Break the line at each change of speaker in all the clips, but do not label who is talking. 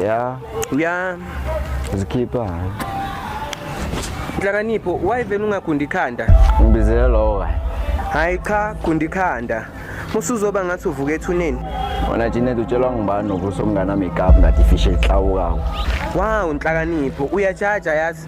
ya ya
zikhipha nhlakanipho wayivele ungagundi ikhanda ngibizele lowo
kahle hhayi cha
gundi ikhanda musuzoba ngathi uvuka ethuneni wona jinet
utshelwa ngubani nokuthi umnganami igabhu ngathi ifishe ihlawukako wawu
nhlakanipho uyajaja yazi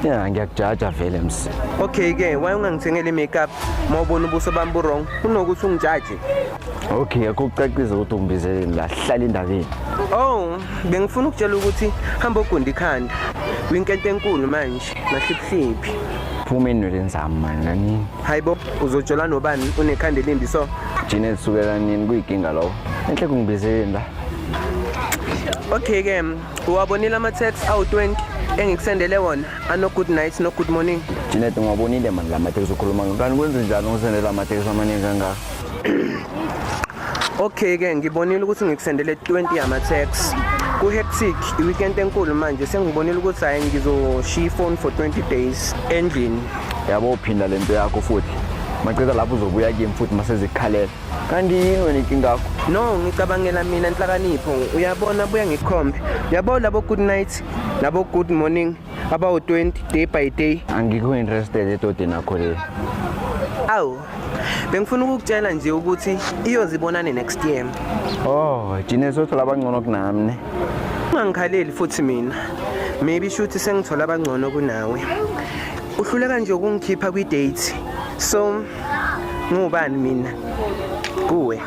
Yeah, ngiyakujaja
vele msi. Okay ke, why
ungangithengeli makeup? Mawubona ubuso bami bu wrong. Kunokuthi ungijaje. Okay,
akucacise ukuthi ungibizeleni la, hlala indabeni. Oh,
bengifuna ukutshela ukuthi hamba ogunda ikhanda. Winkente enkulu manje, mahliphiphi. Phuma enweleni
zami mani nani. Hayibo, uzojola
nobani unekhanda elimbi so? Jine lisukela
nini kuyikinga lowo. Enhle kungibizeleni la.
Okay ke, uwabonile ama-text awu-20 engikusendele wona ano-good night no-good morning Janet ngiwabonile
mani la mateksi ukhuluma ngawo. Kanti kwenze njani ungisendela amateksi amaningi kangaka?
okay-ke ngibonile ukuthi ngikusendele 20 yama-text ku-hectic i-weekend enkulu manje sengibonile ukuthi hhayi ngizoshiya ifoni for 20 days endlini Yabo uphinda
lento yakho futhi. Maqeda lapho uzobuya kimi futhi masezikhalela. kanti yini wena inkinga yakho no ngicabangela
mina nhlakanipho uyabona buya ngikhombe uyabo labo good night labo good morning abawu-20 day by day angikho interested
edodeni akho le awu
bengifuna ukukutshela nje ukuthi iyozibonane next year oh
jine sothola abangcono kunami ne ungangikhaleli
futhi mina maybe shuthi sengithola abangcono kunawe uhluleka nje ukungikhipha kwi-date so ngubani mina kuwe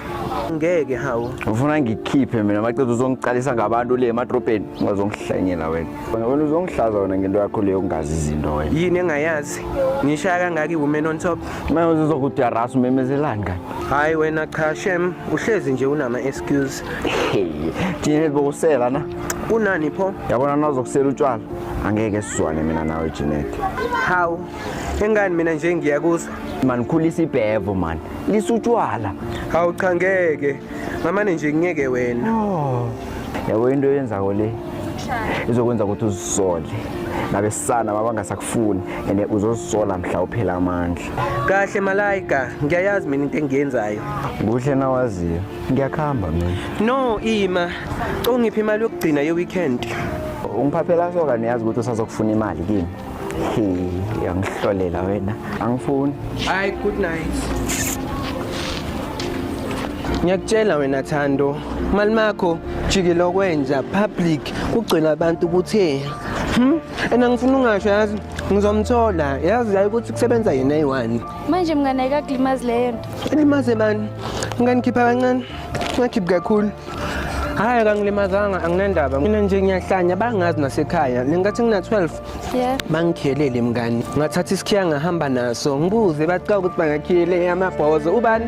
ngeke hawu ufuna ngikhiphe
mina macethu uzongiqalisa ngabantu le emadrobheni ungazongihlanyela wena wena uzongihlaza wena ngento yakho leyo ungazi izinto wena yini engayazi
ngishaya kangaka iwoman on top manje uzokudarasa
umemezelani kanye hayi wena cha
shem uhlezi nje unama excuse
thina bokusela na kunani pho
yabona nazokusela
utshwala angeke sizwane mina nawe Jeanette hawu
Engani mina nje ngiyakuzwa. Man khulisa
ibhevo man. Lisutshwala. Hawu cha
ngeke. Ngamane nje ngeke wena. Oh.
Yabo into yenza ko le. Izokwenza ukuthi uzisole. nabesana babangasakufuni and uzozisola mhla uphela amandla kahle malayika
ngiyayazi mina into engiyenzayo kuhle nawaziyo
ngiyakuhamba mina no ima
ungiphi imali yokugcina ye-weekend ungiphaphela
soka niyazi ukuthi usazokufuna imali kimi uyangihlolela wena angifuni hayi good
night ngiyakutshela wena thando mali makho jikile okwenja public kugcwele abantu ukuthi Hmm? And angifuni ungasho yazi ngizomthola yazi yayi ukuthi kusebenza yena eyi-one manje mngane
ayikakulimazi leyo nto elimaze bani
nganikhipha kancane ngakhiphi kakhulu hayi kangilimazanga anginendaba mina nje ngiyahlanya bangazi nasekhaya lengathi ngina-12 yeah.
bangikhelele mngani
ngathatha isikhiya ngahamba naso ngibuze baca ukuthi bangakhiyele amabhozo ubani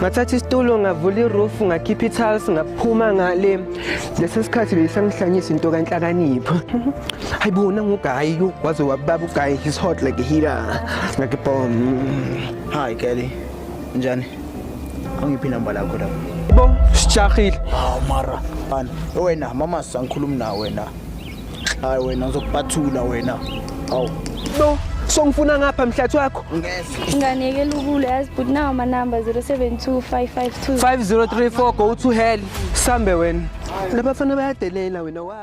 ngathatha isitulo ngavula iroof ngakhipha ithals ngaphuma ngale lesi sikhathi beyisangihlanyisa into kanhlakanipho hayi bona ngugayi waze wababa ugayi his hot like a heater like a bomb hi
kelly njani angiphi inamba lakho lapho bo
sijahile hawu mara
bani wena mama sangikhulumi na wena hayi wena ngizokuphathula wena hawu no
songifuna ngapha mhlathi wakho nganeke
lukule
yazi but nawo manamba 072552 5034
go to hell
sambe
wena labafana bayadelela wena wazi